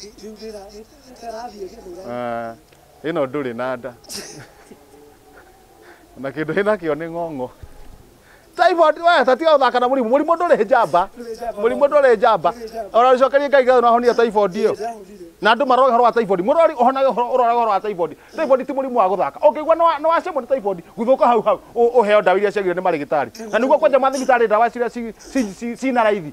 Ngiugĩra nĩtarathiĩ gĩthura. Ah, ĩno ndũrĩ na nda na kĩndũ hĩ nakĩo nĩ ng'ong'o typhoid we tatiga gũthaka na mũrimũ mũrimũ ndũrĩ njamba Ndũrĩ njamba. mũrimũ ndũrĩ njamba Ndũrĩ njamba. ona rĩcokerie ngai ngatho nahonia typhoid ĩyo Ndĩrahonire. na andå maroge horo wa typhoid mũrwari ũhonage horo- ũroge horo wa typhoid typhoid ti mũrimũ wa gũthaka ũngĩigua nĩwa- nĩwacemwo nĩ typhoid guthũka hau hau ũ- ũheo ndawa iria ciagire nĩ marĩgĩtarĩ na nĩguo kwanja mathibitarĩ ndawa ciria ci- ci- ci- cina raithi